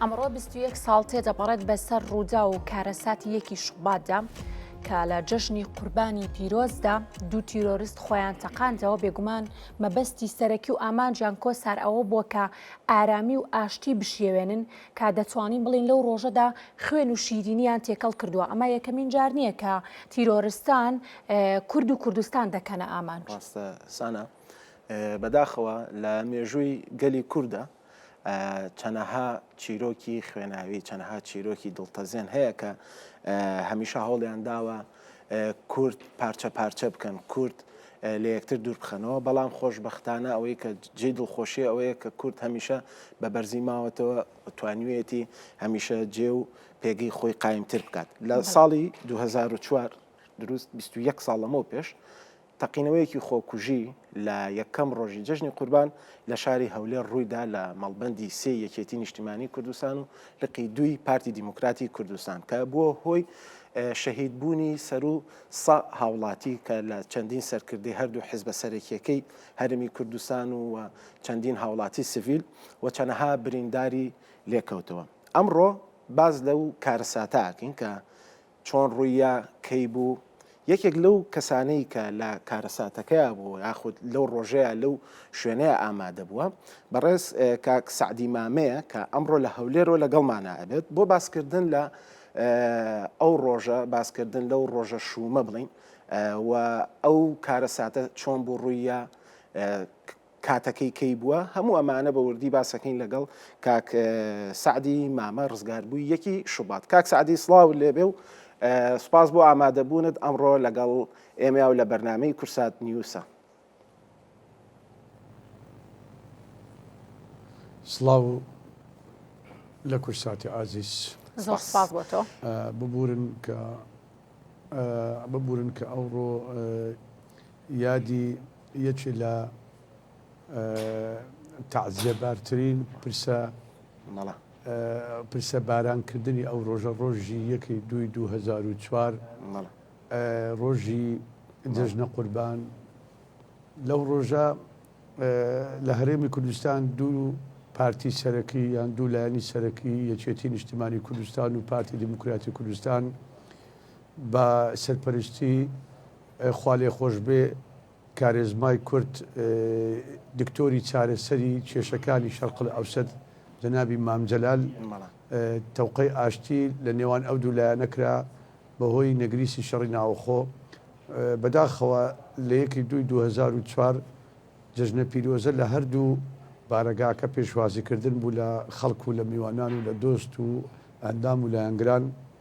ئەمڕۆ بیست و یەک ساڵ تێدەپەڕێت بەسەر ڕوودا و کارەساتی یەکی شوباتدا کە لە جەژنی قوربانی پیرۆزدا دوو تیرۆریست خۆیان تەقاندەوە بێگومان مەبەستی سەرەکی و ئامانجیان کۆسار ئەوە بووە کە ئارامی و ئاشتی بشێوێنن کا دەتوانین بڵین لەو ڕۆژەدا خوێن و شیرینیان تێکەڵ کردووە ئەمە یەکەمین جار نییە کە تیرۆرستان کورد و کوردستان دەکەنە ئامانج سانە بەداخەوە لە مێژووی گەلی کووردە چەنەها چیرۆکی خوێناوی چەنەها چیرۆکی دڵتەزێن هەیە کە هەمیشە هەوڵیان داوە کورد پارچە پارچە بکەن کورد لە یەکتر دوور بخەنەوە بەڵام خۆشببختانە ئەوەی کە جێ دڵخۆشی ئەوەیە کە کورد هەمیشە بە بەرزی ماوەتەوە توانوێتی هەمیشە جێ و پێگەی خۆی قایمتر بکات لە ساڵی 2004 دروست 21 ساڵ لەمەوە پێش تەقینەوەیەکی خۆکوژی لە یەکەم ڕۆژی جەژنی قوربان لە شاری هەولێر ڕوویدا لە مەڵبەندی سێی یەکێتی نیشتیمانی کوردستان و لقی دووی پارتی دیموکراتی کوردستان کە بووە هۆی شەهیدبوونی سەرو سە هاوڵاتی کە لە چەندین سەرکردەی هەردوو حزبە سەرەکیەکەی هەرمی کوردستان و چەندین هاوڵاتی سڤیل و چەنەها برینداری لێکەوتەوە ئەمڕۆ باز لەو کارەساتاکەین کە چۆن ڕووییا، کەی بوو؟ یەکێک لەو کەسانەی کە لە کارەساتەکەیا بوو یاخود لەو ڕۆژەیا لەو شوێنەیا ئامادە بووە، بەڕێز کاک سەعدی مامەیە کە ئەمڕۆ لە هەولێرەوە لەگەڵمانا ئەبێت بۆ باسکردن لە ئەو ڕۆژە، باسکردن لەو ڕۆژە شوومە بڵێین و ئەو کارەساتە چۆن بوو ڕووییا، کاتەکەی کەی بووە هەموو ئەمانە بە وردی باسەکەین لەگەڵ کاک سعدی مامە ڕزگاربووی یەکی شوبات کاک سعدی سڵاو لێبێ و سپاس بۆ ئامادەبوونت ئەمڕۆ لەگەڵ ئێمە و لە بەرنمەی کورسات نیوسە سڵاو لە کورساتی ئازیز ببورن کە ببورن کە ئەوڕۆ یادی یەکێ لە تەعزیە بارترین پرسە مەڵە پرسە باران کردنی ئەو ڕۆژە ڕۆژی یەکی دوی 2004 ڕۆژی جژنە قوربان لەو ڕۆژە لە هەرێمی کوردستان دوو پارتی سەرەکی یان دوو لایەنی سەرەکی یەکێتی نیشتمانی کوردستان و پارتی دیموکراتی کوردستان بە سەرپەرشتی خوالێخۆشبێ کارێزمای کورد دکتۆری چارەسەری کێشەکانی شەرقلئەوسەت جەنابی مام جەلال تەوقەی ئاشتی لە نێوان ئەو دوو لایەنە کرا بەهۆی نەگریسی شەڕی ناوەخۆ بەداخەوە لە یەکی دووی 2004 جەژنە پیرۆزە لە هەردوو بارەگاکە پێشوازیکردن بوو لە خەڵک و لە میوانان و لە دۆست و ئەندام و لایەنگران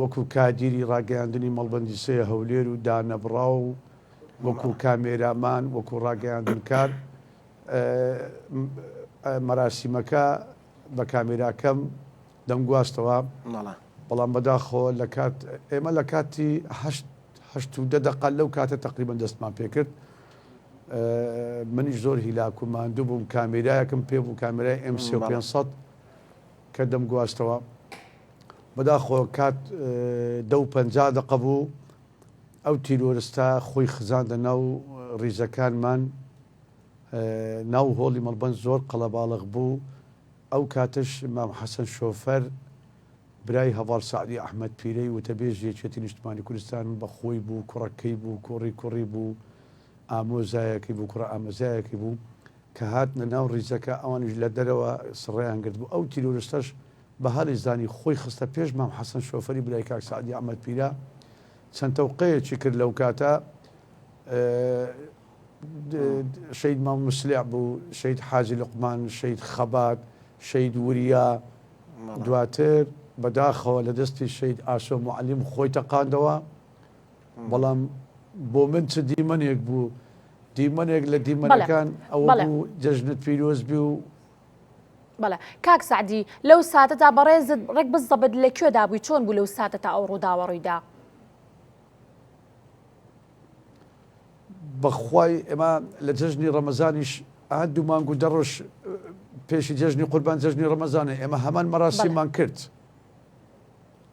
وەکو کادیری ڕاگەیاندنی مەڵبەندی سێ هەولێر و دانەبڕاو و وەکو کامێرامان وەکو ڕاگەیاندنکار مەراسیمەکە بە کامێراکەم دەمگواستەوە بەڵام بەداخۆ لە کات ئێمە لە کاتی هەشت و دە دەقال لەو کاتە تقریبان دەستمان پێکرد منیش زۆر هیلاکو ماندوو بووم کامێراەکەم پێ بوو کامێرای ئەم 500 کە دەمگواستەوە بەداخۆ کات دە و پەنجا دەقە بوو، ئەو تیرۆرستە خۆی خزاندە ناو ڕیزەکانمان، ناو هۆڵی مەڵبەند زۆر قەڵەباڵغ بوو، ئەو کاتەش مام حەسەن شۆفەر برای هەڤاڵ سەعدی ئەحمەد پیرەی وتەبێژی یەکێتی نیشتمانی کوردستان بە خۆی بوو، کوڕەکەی بوو، کوڕی کوڕی بوو، ئامۆزایەکەی بوو، کوڕە ئامۆزایەکەی بوو، کە هاتنە ناو ڕیزەکە ئەوانیش لە دەرەوە سڕەیان گرتبوو، ئەو تیرۆرستەش بە هەڵی زانی خۆی خستە پێش مام حەسەن شۆفەری برای کاک سەعدی ئەحمەد پیرە، چەند تەوقەیەکی کرد لەوکاتە شەید مام مسلع بوو، شەید حاجی لوقمان، شەید خەبات، شەید وریا، دواتر بەداخەوە لە دەستی شەید ئاسۆ موعەلیم خۆی تەقاندەوە. بەڵام بۆ من چ دیمەنێک بوو دیمەنێک لە دیمەنەکان ئەوە بوو جەژنت پیرۆز بێ و بەڵێ کاک سعدی لەو ساتەدا بەڕێزت ڕێک بزەبت لە کوێدا بووی چۆن بوو لەو ساتە تا ئەو ڕووداوە ڕوویدا بەخوای ئێمە لە جەژنی ڕەمەزانیش ئا دوو مانگ و دەڕۆژ پێشی جەژنی قوربان جەژنی ڕەمەزانە ئێمە هەمان مەراسیمان کرد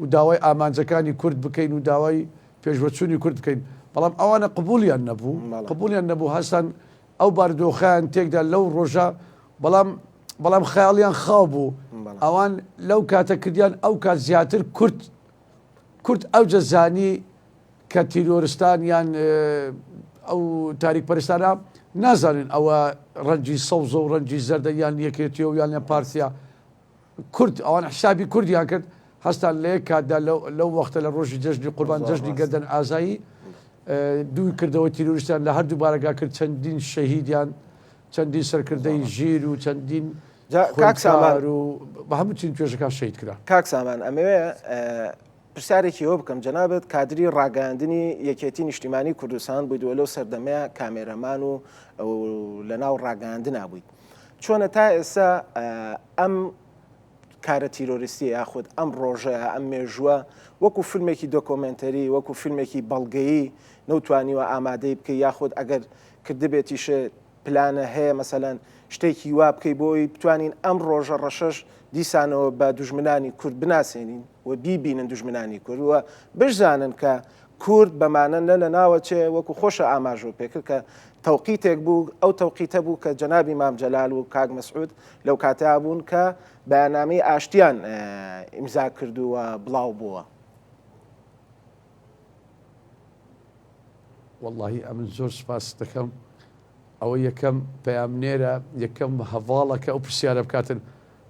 و داوای ئامانجەکانی کورد بکەین و داوای پێشوەچوونی کورد بکەین، بەڵام ئەوانە قبووڵیان نەبوو، قبووڵیان نەبوو، هەستان ئەو بارودۆخەیان تێکدا لەو ڕۆژە، بەڵام بەڵام خەیاڵیان خاو بوو، ئەوان لەو کاتە کردیان، ئەو کات زیاتر کورد کورد ئەوجە زانی کە تیرۆرستان یان ئەو تاریکپەرستانە نازانن ئەوە ڕەنجی سەوزە و ڕەنجی زەردە یان یەکێتیە و یان پارتیە، کورد، ئەوان حیسابی کوردیان کرد، هەستان لە یەک کاتدا لەو وەختە لە ڕۆژی جەژنی قوربان جەژنی گەردەن ئازایی دووی کردەوە تیرۆریستیان لە هەردوو بارەگا کرد چەندین شەهیدیان چەندین سەرکردەی ژیر و چەندین کاکسامار و بە هەموو چین توێژەکان شەید کرا کاکسامان ئەمەوێ پرسیارێکی ئەوە بکەم جەنابێت کادری ڕاگەاندنی یەکێتی نیشتیمانی کوردستان بوویدووە لەو سەردەمەیە کامێرەمان و لە ناو ڕاگەاندنا بوویت چۆنە تا ئێستا ئەم کارە تیرۆریستی یاخود ئەم ڕۆژە ئەم مێژووە وەکو فیلمێکی دۆکۆمنتەری وەکو فیلمێکی بەڵگەیی نەوتوانیوە ئامادەی بکە یاخود ئەگەر کردبێتیش پلانە هەیە مەسەەن شتێکی وا بکەی بۆی بتوانین ئەم ڕۆژە ڕەشەش دیسانەوە بە دژمنانی کورد بناسێنین و بیبینن دژمنانی کورد و بشزانن کە کورد بەمانە نە لەناوە چێ، وەکو خۆشە ئاماژەو پێکرد کە تەوقیتێک بوو، ئەو تەوقیتە بوو کە جەنابی مام جەلال و کاک مەسعود لەو کاتەیا بوون کە بەیاننامەی ئاشتیان ئیمزا کردوو و بڵاو بۆوە. وەڵاهی ئەمن زۆر سوپاست دەکەم. ئەوە یەکەم پەیامنێرە یەکەم هەڤاڵە کە ئەو پرسیارە بکاتن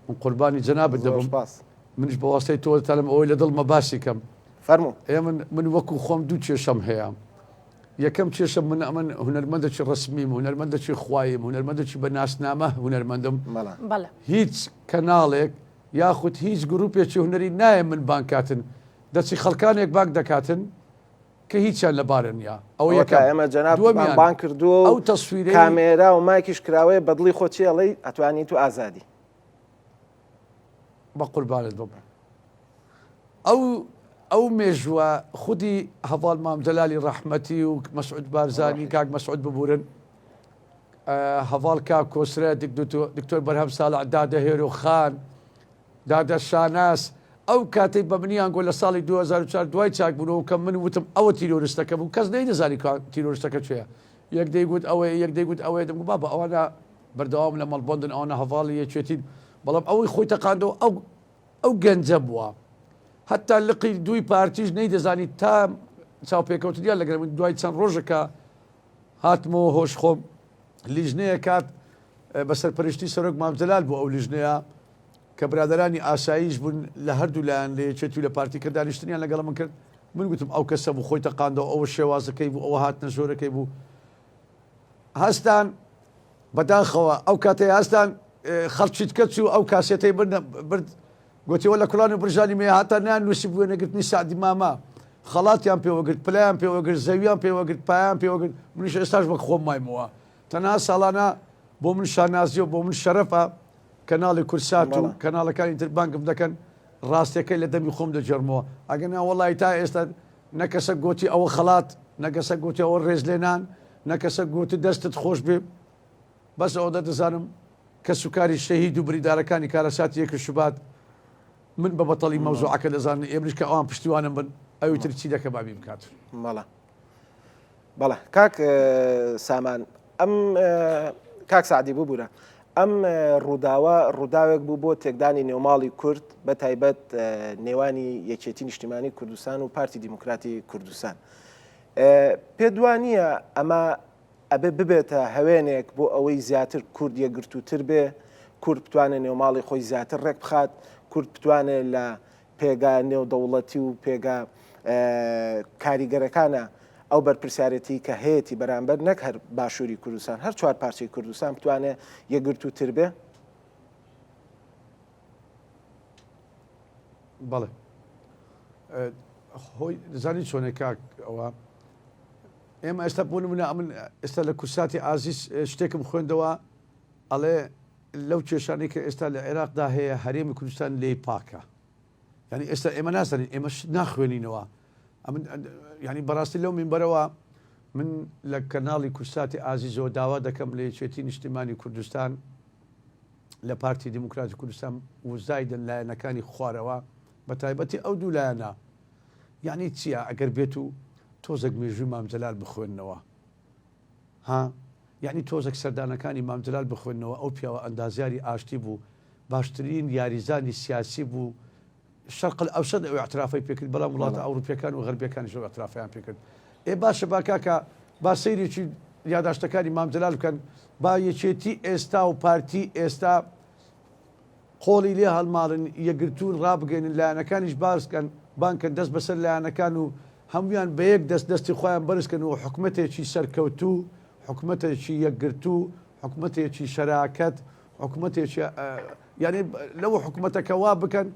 من قوربانی جەنابت زۆر دەبم سوپاس منیش بە واستەی تۆ دەتانم ئەوەی لە دڵمە باسی کەم فەرموو ئێ من من وەکو خۆم دوو کێشەم هەیە یەکەم کێشەم من ئەمن هونەرمەندەکی ڕەسمیم هونەرمەندەکی خواییم هونەرمەندەکی بە ناسنامە هونەرمەندم مەلا بەڵێ هیچ کەناڵێک یاخود هیچ گروپێکی هونەری نایە من بانگ کاتن دەچی خەڵکانێک بانگ دەکاتن کە هیچیان لە بارە نیە ئەوە ئەوە تا یەکەم ئێمە جەنابتمان دووەمیان بانگ کردووە و ئەو تەسویرەی کامێرا و مایکیش کراوەیە بە دڵی خۆت چی ئەڵێی ئەتوانی تو ئازادی. بە قوربانت بم ئەو ئەو مێژووە خودی هەڤاڵ مام جەلالی ڕەحمەتی و مەسعود بارزانی کاک مەسعود ببورن هەڤاڵ کاک کۆسرە دکتۆر بەرهەم ساڵح دادە هێرۆ خان دادە شاناز، ئەو کاتەی بە منیان گۆت لە ساڵی دوو هەزار و چوار دوای چاکبوونەوە کە من وتم ئەوە تیرۆرستەکە بوو کەس نەیدەزانی کوا تیرۆرستەکە کوێیە یەک دەیگوت ئەوەیە یەک دەیگوت ئەوەیە دەمگوت بابە ئەوانە بەردەوامن لە مەڵبەندن ئەوانە هەڤاڵی یەکێتین بەڵام ئەوەی خۆی تەقاندەوە ئەو ئەو گەنجە بووە هەتا لقی دووی پارتیش نەیدەزانی تا چاوپێکەوتنیان لەگەڵ من دوای چەند ڕۆژێکە هاتمەوە هۆش خۆم لیژنەیە کات بە سەرپەرشتی سەرۆک مام جەلال بۆ ئەو لیژنەیە کە برادرانی ئاساییش بوون لە هەردوو لایەن لە یەکێتی و لە پارتی کە دانیشتنیان لەگەڵ من کرد من گوتم ئەو کەسە بوو خۆی تەقاندەوە ئەوە شێوازەکەی بوو ئەوە هاتنە ژۆرەکەی بوو هەستان بەداخەوە ئەو کاتەی هەستان خەڵکیت کەچ و ئەو کاسێتەی بردە برد گۆتی، وەلا کوڵان و برژانی مەیە هاتانیان نووسیبوویە نەگرتنی سەعدی مامە، خەڵاتیان پێوە گرت، پلەیان پێوە گرت، زەویان پێوە گرت، پایەیان پێوە گرت، منیش ئێستاش وەک خۆم مایمەوە، تەنها ساڵانە بۆ من شانازییە و بۆ من شەرەفە کەناڵی کوردسات و کەناڵەکانی تر بانگم دەکەن، ڕاستییەکەی لە دەمی خۆم دەگێڕمەوە، ئەگەرنا وەڵاهی تا ئێستا نە کەسەک گۆتی ئەوە خەڵات، نە کەسەک گۆتی ئەوە ڕێزلێنان، نە کەسەک گۆتی دەستت خۆشبێ. بەس ئەوەندە دەزانم کەسوکاری شەهید و بریندارەکانی کارەساتی یەک شوبات من بە بەتەڵی مەوزوعەکە دەزانن ئێمەش کە ئەوان پشتیوانم بن ئەوی تر چی دەکە بابی بکات مەڵە بەڵە کاک سامان ئەم کاک سعدی ببوورە ئەم ڕووداوە ڕووداوێک بوو بۆ تێکدانی نێوماڵی کورد بە تایبەت نێوانی یەکێتی نیشتیمانی کوردستان و پارتی دیموکراتی کوردستان پێ دوانە ئەمە ئەبێ ببێتە هەوێنێک بۆ ئەوەی زیاتر کورد یەکگرتووتر بێ، کورد بتوانێ نێوماڵی خۆی زیاتر ڕێک بخات، کورد بتوانێ لە پێگا نێودەوڵەتی و پێگا کاریگەرەکانە ئەو بەرپرسیارێتیی کە هەیەتی بەرامبەر نەک هەر باشووری کوردستان، هەر چوار پارچەی کوردستان بتوانێ یەکگرتووتر بێ. بەڵێ خۆی دەزانی چۆنێک کاک ئەوە ئێمە ئێستا بۆ منە ئەمن ئێستا لە کورساتی ئازیز شتێکم خوێندەوە ئەڵێ لەو کێشانی کە ئێستا لە عێراقدا هەیە هەرێمی کوردستان لی پاکە ینی ئێستا ئێمە ناسەنین ئێمە ناخوێنینەوە ئەمن ینی بەڕاستی لەو منبەرەوە من لە کەناڵی کورساتی ئازیزەوە داوا دەکەم لە یەکێتی نیشتیمانی کوردستان لە پارتی دیموکراتی کوردستان وزایدن لایەنەکانی خوارەوە بە تایبەتی ئەو دوو لایەنە یعنی چییە ئەگەر بێت و تۆزێک مێژووی مامجلال بخوێندنەوە ها یعنی تۆزێک سەردانەکانی مامجلال بخوێندنەوە ئەو پیاوە ئەندازیاری ئاشتی بوو باشترین یاریزانی سیاسی بوو شەرق ئەوسەد ئەو ئیعترافەی پێکرد بەڵام وڵاتە ئەوروپیەکان و غەربیەکانیش ئەو ئیعترافەیان پێکرد ئێ باشە با کاکە با سەیرێکی یاداشتەکانی مام جەلال بکەن با یەکێتی ئێستا و پارتی ئێستا قۆڵی لێ هەڵماڵن یەکگرتوون ڕابگەێنن لایەنەکانیش باسکەن بانکەن دەست بەسەر لایەنەکان و هەمویان بە یەک دەست دەستی خۆیان بەرزکەن و حکومەتێکی سەرکەوتوو حکومەتێکی یەکگرتوو حکومەتێکی شەراکەت حکومەتێکە یانی لەو حکومەتەکە وا بکەن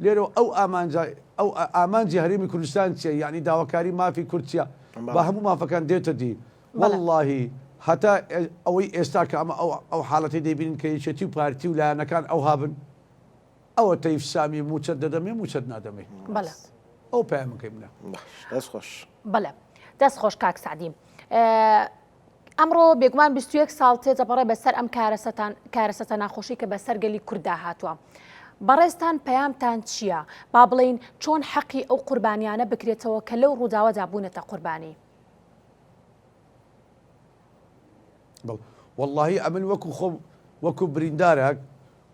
لێرەوە ئەو ئامانجە ئەو ئامانجی هەرێمی کوردستان چیە یعنی داواکاری مافی کورد چیە بە هەموو مافەکان دێتە دی واللهی هەتا ئەوەی ئێستا کە ئەمە ئەو حاڵەتی دەبینین کە یەکێتی و پارتی و لایەنەکان ئەو هابن ئەوە تەیف سامی موچەت دەدەمێ موچەت نادەمێ ئەو پامەکەی منە دەست خۆش بەڵێ دەست خۆش کاک سعدیم ئەمڕۆ بێگومان بیست و یەک ساڵ تێدەپەڕێ بەسەر ئەم کارەسەتان کارەسەتە ناخۆشی کە بەسەر گەلی کورددا هاتووە. بەڕێزتان پەیامتان چییە؟ با بڵێین چۆن حەقی ئەو قوربانییانە بکرێتەوە کە لەو ڕووداوەدا بوونەتە قوربانی؟ بەڵ وەڵاهی ئەمن وەکو خۆم وەکو بریندارەک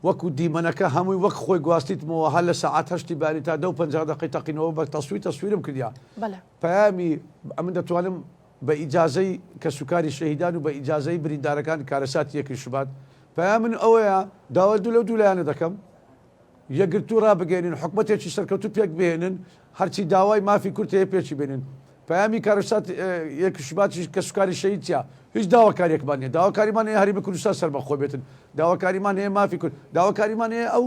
وەکو دیمەنەکە هەمووی وەک خۆی گواستیتمەوە هەر لە سەعات هەشتی باری تا دە و پەنجا دەقەی تەقینەوە بە تەسویر تەسویرم کردیا بەڵێ پەیامی ئەمن دەتوانم بە ئیجازەی کەسوکاری شەهیدان و بە ئیجازەی بریندارەکان کارەساتی یەکەی شوبات پەیامن ئەوەیە داوای دوو لەو دوو لایەنە دەکەم یەکگرتوو ڕابگەێنن حکومەتێکی سەرکەوتوو پێک بهێنن هەرچی داوای مافی کورد هەیە پێچی بێنن پەیامی کارەسات یەکی شوباتی کەسوکاری شەهیدە هیچ داواکاریەکمان نیە داواکاریمان هەیە هەرێمی کوردستان سەربەخۆ بێتن داواکاریمان هەیە مافی کورد داواکاریمان هەیە ئەو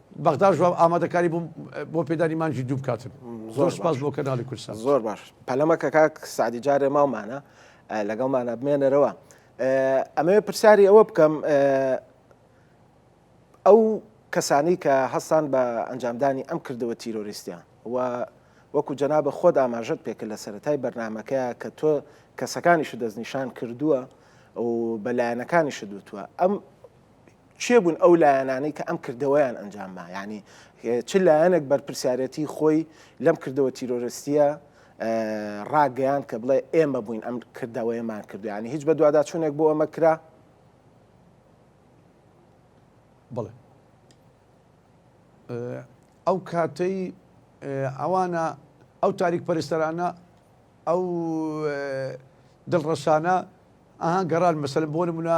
بەغداش بە ئامادەکاری بووم بۆ پێدانی مانگی دوو بکاتن زۆر سپاس بۆ کەناڵی کوردستان زۆر باش پەلەمە کە کاک سعدی جارێ ماومانە لەگەڵمانە بمێنەرەوە ئەمەوێ پرسیاری ئەوە بکەم ئەو کەسانی کە هەستان بە ئەنجامدانی ئەم کردەوە تیرۆریستیان و وەکو جەنابە خۆت ئاماژت پێکرد لە سەتای بەرنمەکەیە کە تۆ کەسەکانیش دەستنیشان کردووە و بەلایەنەکانیش دوتووە ئەم کێ بوون ئەو لایەنانەی کە ئەم کردەوەیان ئەنجام ما یعنی چ لایەنێک بەرپرسیارەتی خۆی لەم کردەوە تیرۆرستیە ڕاگەیان کە بڵێ ئێمە بووین ئەم کردەوەیەمان کردویانی هیچ بە دوواداچوونێک بۆ ئەمە کرا بڵێ ئەو کاتەی ئەوانە ئەو تاریک پەرستەرانە ئەو دڵڕەسانە ئاها گەڕان مەسەل بۆ نمونە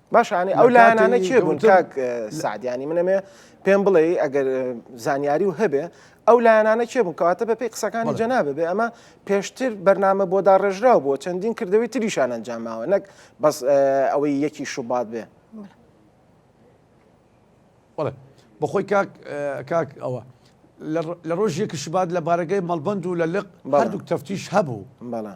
باشانی ئەو لایەنانە چێ بوون کاک سعدیانی منەمێ پێم بڵێ ئەگەر زانیاری و هەبێ ئەو لایەنانە چێ بوون کەواتە بەپی قسەکانی جەنابە بێ ئەمە پێشتر بەرنامە بۆ داڕێژراو بۆ چەندین کردەوەی تریشان ئەنجاماوە نەک بەس ئەوەی یەکی شوبات بێ بڵێ بەخۆی کاک کاک ئەوە لە ڕۆژێکی شبات لە بارەگەی مەڵبند و لە لق هەردووک تەفتیش هەبوو بەڵە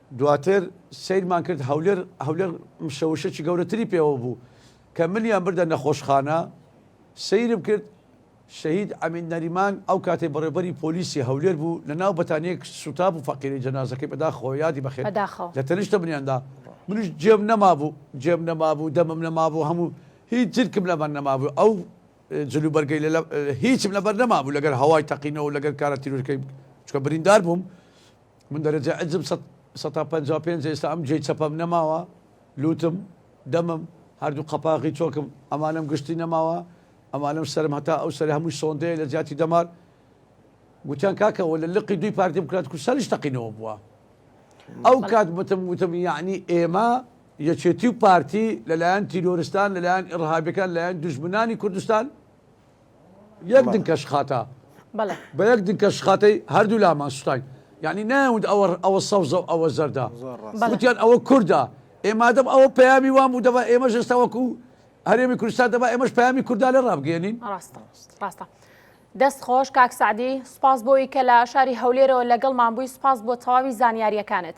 دواتر سەیرمان کرد هەولێر هەولێر مشەوشەکی گەورەتری پێوە بوو کە منیان بردە نەخۆشخانە سەیرم کرد شەهید ئەمین نەریمان ئەو کاتەی بەڕێوبەری پۆلیسی هەولێر بوو لە ناو بەتانیەک سوتا بوو فەقیری جەنازەکەی بەداخەوە یادی بەخێر بەداخەوە لە تەنیشتە منیاندا منیش جێم نەمابوو جێم نەمابوو دەمم نەمابوو هەموو هیچ جرکم لەبەر نەمابوو ئەو جلو بەرگەی لە هیچم لەبەر نەمابوو لەگەر هەوای تەقینەوە لەگەر کارە تیرورکەی چکە بریندار بووم من دەرەجە ئەجم سەد سەتا پەنجا و پێنج ئێستا ئەم گوێی چەپەم نەماوە لوتم دەمم هەردوو قەپاغی چۆکم ئەمانەم گشتی نەماوە ئەمانەم سەرم هەتا ئەو سەر هەمووی سۆندەیە لە جیاتی دەمار گوتیان کاکەەوە لە لقی دوی پارتی بکات کو سەرش تەقینەوە بووە ئەو کات بتم وتم یعنی ئێمە یەکێتی و پارتی لەلایەن تیرۆرستان لەلایەن ئڕهابەکان لایەن دژمنانی کوردستان یەک دنکە شخاتە بە یەک دنکە شخاتەی هەردوو لامان سوتاین یعنی ناوت ئەوە ئەوە سەوزە و ئەوە زەردە وتیان ئەوە کووردا ئێمادەم ئەوە پەیامی وام و دەبا ئێمە ژێستا وەکو هەرێمی کوردستان دەبا ئێمەش پەیامی کووردا لە ڕابگەێنین ڕاستە ڕاستە. دەست خۆش کاک سعدی سپاس بۆی کە لە شاری هەولێرەوە لەگەڵمان بووی سپاس بۆ تەواوی زانیاریەکانت.